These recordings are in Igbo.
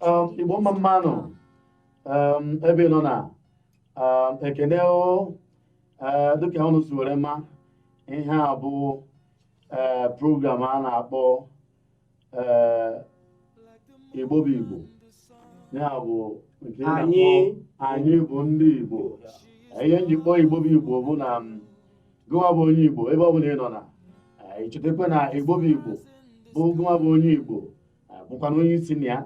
um, igbo mma mmanụ um, ebe ị nọ na um, ekene o eh, dịka ụnụ si were ma ihe a bụ eh, program a na-akpọ eh, igbo bụ igbo ya bụ nke na-akpọ Anyị. anyị bụ ndị igbo ihe m ji kpọọ igbo bụ igbo bụ na m, gụnwa bụ onye igbo ebe ọ bụla ị nọ na eh, ị chetakwa na igbo bụ igbo bụ gụnwa bụ onye igbo bụkwanụ onye isi na ya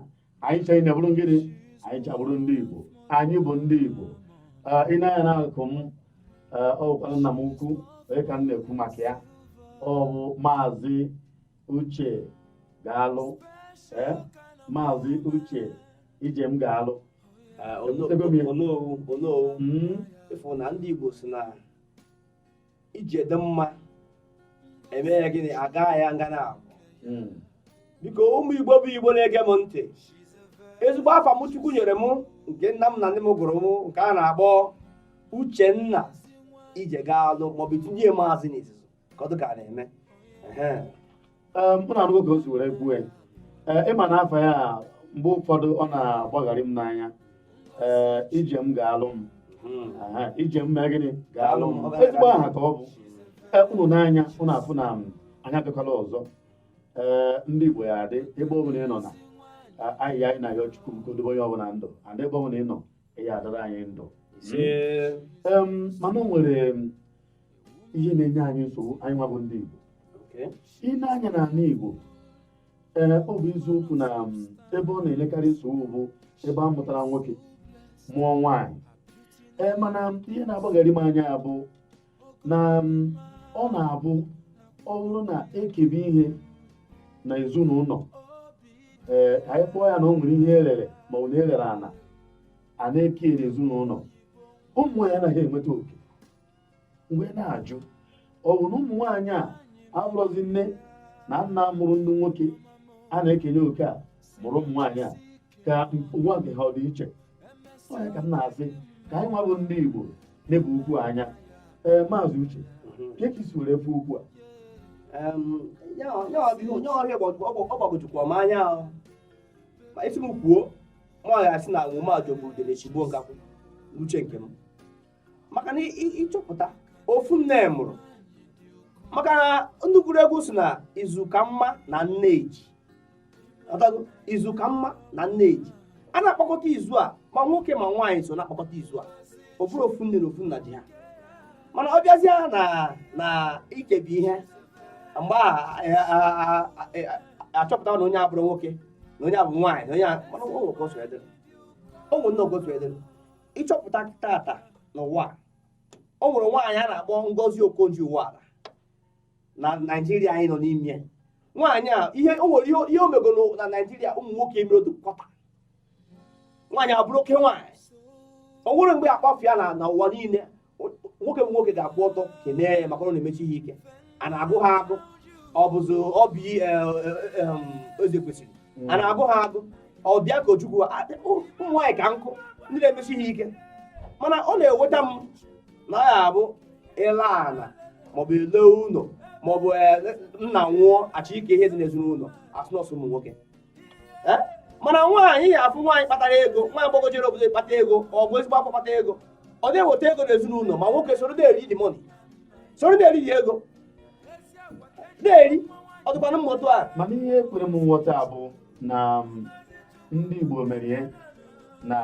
anyị ncha niile bụrụ gịnị anyị ncha bụrụ ndị Igbo anyị bụ ndị Igbo i nee anya n'akụkụ m ọ bụkwanụ nna m ukwu onye ka m na-ekwu maka ya ọ bụ maazị Uche Galụ maazị Uche Ijemgalụ onowu hmm? ị fụ na ndị Igbo si na ije dị mma e mee ya gịnị a gaa ya nga naabọ hmm. biko ụmụ igbo bụ igbo na-ege m ntị ezigbo afa m chukwu nyere m nke nna m na nne m gụrụ m nke a na-akpọ Uchenna Ijegalụ maọbụ e tinye maazị n'izizi ka ọ dị ka a na-eme ụnụ anụgo ka o si were kwuo ya ị ma na afa ya mgbe ụfọdụ ọ na-agbagharị m n'anya ee ije m ga-alụ m ije m mee gịnị ga-alụ m ezigbo aha ka ọ bụ ụnụ nee anya ụnụ afụ na anyị abịakwala ọzọ ee ndị Igbo ya adị ebe ọ bụla ị nọ na ihe anyị na-ayọ Chukwu bụ ka o dobe onye ọbụla ndụ and ebe ọ bụla ị nọ ya adịrị anyị ndụ mana o nwere ihe na-enye anyị nsogbu anyị nwa bụ ndị Igbo i nee anya n'ala Igbo ee eh, ọ bụ eziokwu na um, ebe ọ na-enyekarị nsogbu bụ ebe a mụtara nwoke mụọ nwaanyị ee eh, mana um, ihe na-agbagharị m anya bụ na um, ọ na-abụ ọ bụrụ na e kebe ihe na ezinụlọ ee eh, anyị kpọọ ya na o nwere ihe e rere ma ọ na e rere ana a na-eke n'ezinụlọ ụmụ nwaanyị anaghị enweta oke m wee na-ajụ ọ bụ na ụmụ nwaanyị a abụrọzi nne na nna mụrụ ndị nwoke a na-ekenye oke a mụrụ ụmụ nwaanyị a ka ụwa nke ha ọ dị iche ọ ya ka m na-asị ka anyị nwa bụ ndị Igbo nebe okwu a anya ee eh, maazị Uche kee ka i si were fụ okwu a ya ọhịa ọ gbagojukwa m anya ma ị sị m kwuo m ga-asị na nwụma jọgburu udele sigbuo nkakwụ n'uche nke m maka na ịchọpụta ofu nne mụrụ maka na ndị gwuru egwu si na izu ka mma na nneji izu ka mma na nneji a na-akpakọta izu a ma nwoke ma nwaanyị so na-akpakọta izu a ọ bụrụ ofu nne na ofu nna ji ha mana ọ bịazie na ikebi ihe mgbe achọpụta na onye a bụrụ nwoke na onye a bụ nwaanyị na onye mana o nwere ogotu edere o nwere nne ogotu edere ịchọpụta tata n'ụwa a o nwere nwaanyị a na-akpọ Ngozi Okonjo Iweala na Naijiria anyị nọ n'ime nwaanyị a ihe o nwere ihe o megoro na Naijiria ụmụ nwoke emere otu kwọta nwaanyị a bụrụ oke nwaanyị o nwere mgbe akpafụ ya na ụwa niile nwoke bụ nwoke ga-akwụ ọtọ kelee ya maka na ọ na-emecha ihe ike a na-agụ ha agụ ọ bụzi Oby e, e, e, Ezekwesili a na-agụ ha agụ ọ Bianca Ojukwu ụmụ nwaanyị ka nkụ ndị na-emecha ihe ike mana ọ na-ewute m na ọ ya abụ ele ala maọbụ ele ụlọ maọbụ nna nwụọ achọọ ike ihe dị n'ezinụlọ asị na ọ sọ ụmụ nwoke eh? mana nwaanyị ya afụ nwaanyị kpatara ego nwa agbọghọ jere obodo kpata ego ọ bụ ezigbo akwa kpata ego ọ na-eweta ego n'ezinụlọ ma nwoke soro na-eri the money soro na-eri the ego na-eri ọ dịkwanụ mma otu a mana ihe ekwero m nghọta bụ na um, ndị Igbo mere ya na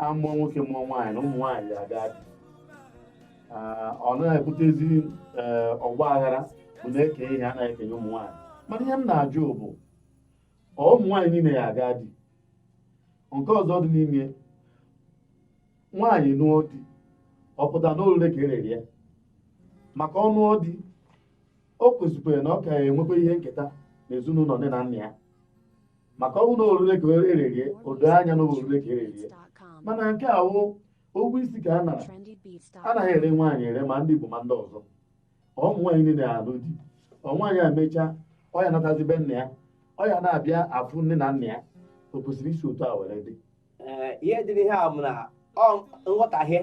amụọ nwoke mụọ nwaanyị na ụmụ nwaanyị aga di, ọ na-ebutezi eh, ọgba aghara bụ na-eke ihe a na-ekenye ụmụ nwaanyị mana ihe m na-ajụ bụ ọ ụmụ nwaanyị niile ya aga di nke ọzọ dị n'ime nwaanyị nụọ di ọ pụta na orire ka erere ya maka ọ nụọ di o kwesịkwara na ọ ka enwekwa ihe nketa na ezinụlọ nne na nna ya maka ọ bụrụ na orire ka erere ya o doo anya na orire ka erere ya mana nke a wụ ụgwọ isi ka a nara anaghị ere nwaanyị ere ma ndị Igbo ma ndị ọzọ ụmụ nwaanyị niile alụ di ọ nwaanyị a mechaa ọ ya natazi be nna ya ọ ya na-abịa afụ nne na nna ya o kwesịrị isi otu a were dị ihe dịrị ihe a bụ na nghọtahie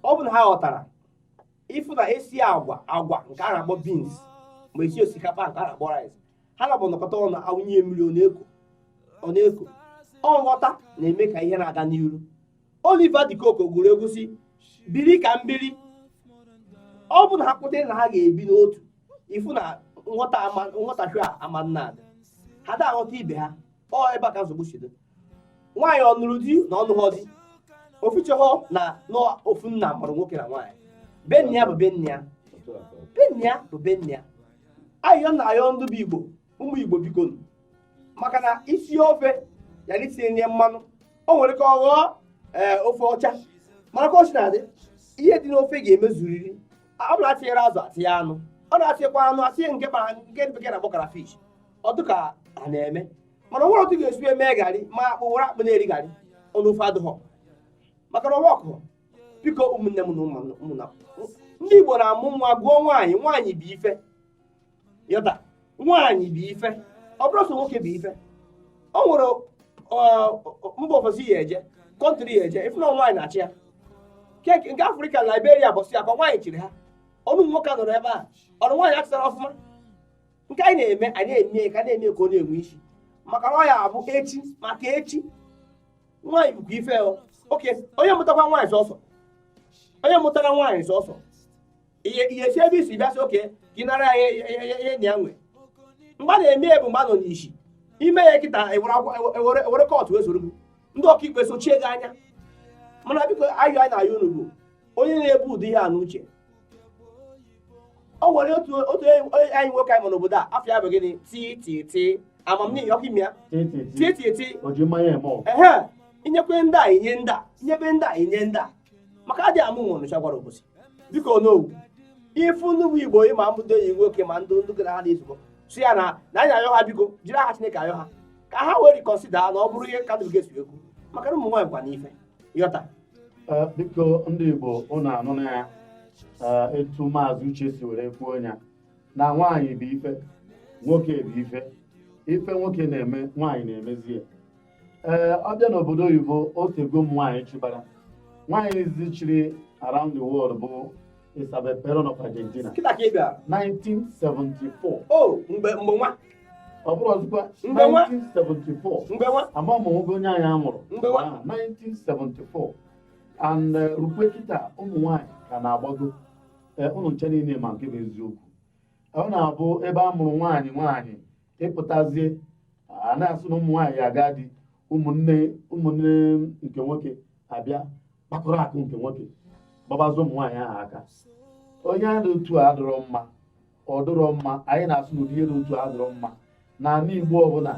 ọ bụ na ha ghọtara ịfụ na esi agwa agwa nke a na-akpọ beans ma esi osikapa nke a na-akpọ rice ha naabọ nọkọta ọnụ awụnye mmiri ọ na-eko ọ nghọta na-eme ka ihe na-aga n'iru Oliver De Coque gwuru egwu si biri ka m biri ọ bụ na ha kweta na ha ga-ebi n'otu ifu na nghọtahie ama na-adị ha da aghọta ibe ha ọ ebe a ka nsogbu si dị nwaanyị ọ nụrụ di na ọnụghọ di ofuchehọ na ofu nna mụrụ nwoke na nwaanyị be nna ya bụ be nna ya be nna ya bụ be nna ya ayịyọ m na-ayọ ndị bụ igbo ụmụ igbo biko maka na isi ofe ya na itinye nye mmanụ o nwere ka ọ ghọọ ee eh, ofe ọcha mana ka o si na-adị ihe dị n'ofe ga-emezuriri ọ bụla atinyere azụ atinye anụ ọ na-atinyekwa anụ atinye nke kpara nke bekee na-akpọ crayfish ọ dịka a na-eme mana o nwere otu ga-esi eme garị ma akpụ were akpụ na-eri garị ọnụ ofe adịghọ maka na ọwa ọkụ biko ụmụnne m na ụmụnna ndị Igbo na-amụ nwa gụọ nwaanyị nwaanyị bụ ife yọta nwaanyị bụ ife ọ bụrọ sọ nwoke bụ ife o nwere mba ofesi ị ya-eje country ị ya-eje ị fụ na nwaanyị na-achị ya keki nke afrịka na liberia bọsị ya ka nwaanyị chịrị ha ọnụ nwoke nọrọ ebe a ọrụ nwaanyị achịtara ọfụma nke anyị na-eme anyị na-eme ka na-eme ka ọ na-enwe isi maka na ọ ya-abụ echi maka echi nwaanyị bụkwa ife oke onye mụtakwa nwaanyị sọsọ onye mụtara nwaanyị sọsọ ihe ihe si ebe i si bịa sị ọ ka ị nara ya ihe nna ya nwe mgbe a na-eme ya bụ mgbe a nọ n'isi i mee ya kịta ewere court wezụrụ gị ndị ọkaikpe sochie gị anya mana biko ayọ anyị na-ayọ unu bụ onye na-ebu ụdị ihe a n'uche o nwere otu otu enyi nwoke anyị nọ n'obodo a afa ya bụ gịnị ti ti ti amamihe ọkụ ime ya ti ti ti ehe inyekwe ndị a inye ndị a inyebe ndị a inye ndị a maka adịghị ama ihe Ọnịcha gwara Obosi biko onowu ị fụ nnukwu igbo ị ma mbụdo enyi nwoke ma ndị ndị gara ha na-ezukọ sị ya na na anyị ayọ ha biko jiri aha chineke ayọ ha ka ha wee reconsider na ọ bụrọ ihe ka ndụrụ ga-esi ekwu maka na ụmụ nwaanyị kwa n'ife yọta eh, biko ndị igbo ụnụ anụna ya eh, etu maazị uche si were kwuo ya na nwaanyị bụ ife nwoke bụ ife ife nwoke na-eme nwaanyị na-emezi ya ee ọ bịa n'obodo oyibo o teego ụmụ nwaanyị chịbara nwaanyị izizi chịrị around the world bụ Isabel Perón of Argentina kịta ka ị bịara 1974 o mgbe mgbe nwa ọ bụrọzịkwa Mgbe nwa? 1974 mgbe nwa ama m nwoke onye anyị amụrụ Mgbe nwa? Ah, 1974 and eh, rukwe kịta ụmụ nwaanyị ka na-agbago Eh, ụnụ ncha niile ma nke bụ eziokwu ọ na-abụ ebe a mụrụ nwaanyị nwaanyị ịpụtazie a na-asị na ụmụ nwaanyị ya-aga di ụmụnne ụmụnne nke nwoke abịa kpakọrọ akụ nke nwoke gbabazie ụmụ nwaanyị ahụ aka onye a dị otu a adịrọ mma ọ dịrọ mma anyị na-asị n'ụdị ihe dị otu a adịrọ mma na ala igbo ọ bụna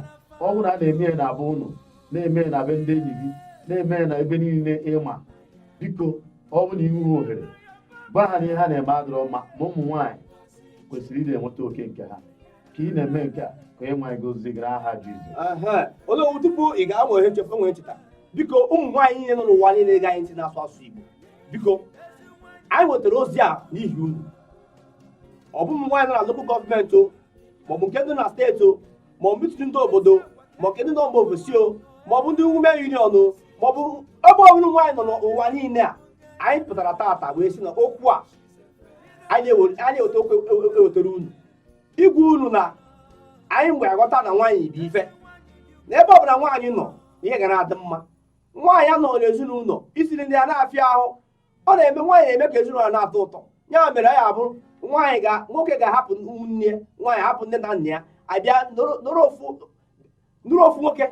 ọ bụna a na-eme ya na be ụnụ na-eme ya na be ndị enyi gị na-eme ya na ebe niile ị ma biko ọ bụ na ị hụ ohere gwa ha na ihe ha na-eme adịrọ mma ma ụmụ nwaanyị kwesịrị ịdị enweta oke nke ha ka ị na-eme nke a ka Onyenwe anyị gozie gị n'aha Jizọs Onowu tupu ị ga-enwe ihe nchekwa nwee ncheta biko ụmụ nwaanyị niile nọ n'ụwa niile ge anyị ntị n'asụsụ Igbo biko anyị wetara ozi a n'ihi unu ọ bụ ụmụ nwaanyị nọ na lokal gọọmenti o maọbụ nke ndị na steeti o maọbụ mitin ndị obodo maọbụ nke ndị nọ mba ofesi o maọbụ ndị women union o maọbụ ebe ọbụla nwaanyị nọ n'ụwa niile a anyị pụtara taata wee sị na okwu a anyị eweta okwu ewetara unu ịgwa unu na anyị mgbe aghọta na nwaanyị bụ ife na ebe ọbụla nwaanyị nọ ihe ga na-adị mma nwaanyị anọ n'ezinụlọ isi nri ndị a na-afịa ahụ ọ na-eme nwaanyị na-eme ka ezinụlọ na-atọ ụtọ ya mere ya abụrụ nwaanyị ga nwoke ga-ahapụ ụmụnne ya nwaanyị hapụ nne na nna ya abịa nụrụ ofu nwoke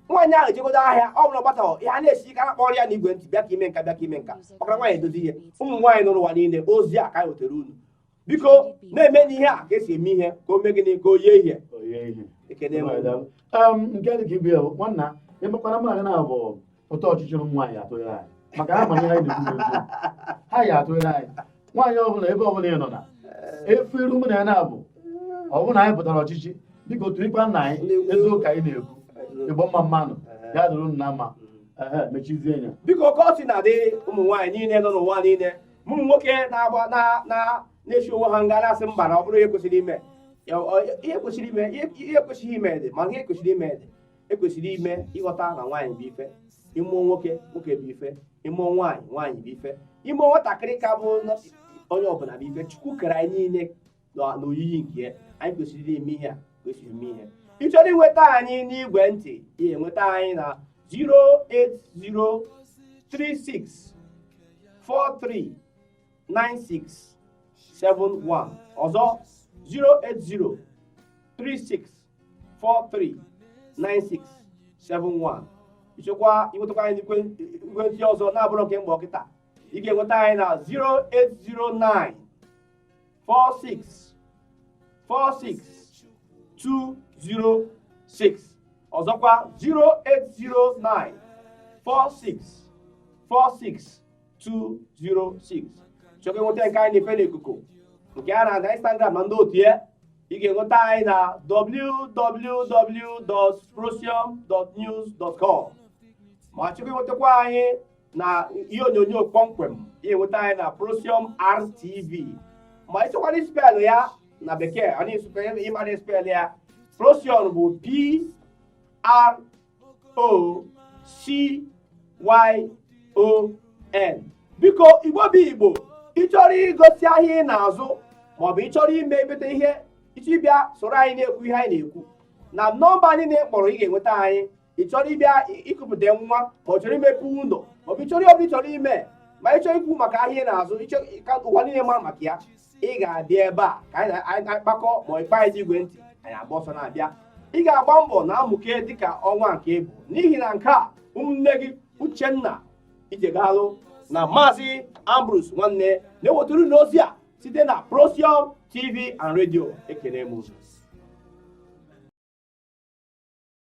nwaanyị ahụ ejegodo ahịa ọ bụla gbata ihe na-esi ike akpọrọ ya na igwe ntị bịa ka e mee nka bịa ka e mee nka maka nwaanyị edozi ihe ụmụ nwaanyị nọ n'ụwa niile ozi a ka anyị wetara unu biko na-emenụ ihe a ka esi eme ihe ka o mee gịnị ka o yie ihe ekene m nke dị ka ibe ya nwanna emekwara mụ na gị na-abụ ụtọ ọchịchị ụmụ nwaanyị atụnyere anyị maka ha ma ihe anyị na-ekwu ha ya atụnyere anyị nwaanyị ọbụla ebe ọbụla ị nọ na efu iru mụ na ya na-abụ ọ bụrụ na anyị pụtara ọchịchị biko tụnyekwanụ anyị ezi ụka anyị na-ekwu Igbo mma mma nụ ya dịrị unu mma mechizie ya biko ka ọ si na-adị ụmụ nwaanyị niile nọ n'ụwa niile mụ nwoke na-agba na na na-esi ọnwụ ha ga na-asị mba na ọ bụrọ ihe kwesịrị ime ihe kwesịrị ime dị ma ihe kwesịrị ime dị ekwesịrị ime ịghọta na nwaanyị bụ ife ịmụọ nwoke nwoke bụ ife ịmụọ nwaanyị nwaanyị bụ ife ịmụọ nwatakịrị ka bụ onye ọbụla bụ ife chukwu kere anyị niile n'oyiyi nke ya anyị kwesịrị ime ihe a ka esi eme ihe ị chọrọ inweta anyị n'igwe ntị ị ga-enweta anyị na 08036439671 ọzọ 08036439671 ị chọkwa inwetakwa anyị n'igwe ntị ọzọ na-abụrụ nke mgbe kịta ị ga-enweta anyị na 0809 four six four six two zero six ọzọkwa zero eight zero nine four six four six two zero six chọkwa inweta nke anyị na-efe n'ikuku nke a na-aga Instagram na ndị otu ya ị ga-enweta anyị na www.prosium.news.com ma chọkwa inwetakwa anyị na ihe onyonyo kpọmkwem ị ga-enweta anyị na Procyon RTV ma ịchọkwara spelụ ya na bekee ọ na-esukwa ịmara spelụ ya Procyon bụ P R O C Y O N biko igbo bụ igbo ịchọrọ igosi ahịa ị na-azụ maọbụ ịchọrọ imebete ihe ịchọ ịbịa soro anyị na-ekwu ihe anyị na-ekwu na nọmba anyị na ịkpọrọ ị ga-enweta anyị ị chọrọ ịbịa ịkụpụta nwa ma ị chọrọ imepe ụlọ ma ọ bụ ịchọrọ ihe ọbụla ịchọrọ ime ma ịchọrọ ikwu maka ahịa ị na-azụ ka ụwa niile mara maka ya ị ga-abịa ebe a ka anyị na-akpakọ ma ịkpọ anyị n'igwe ntị anyị agba ọsọ na-abịa ị ga-agba mbọ na-amụke dịka ọnwa nke ị bụ n'ihi na nke a ụmụnne gị uchenna ijegalụ na maazị ambrose nwanne na-ewetara unu ozi a site na procyon tv and radio ekene m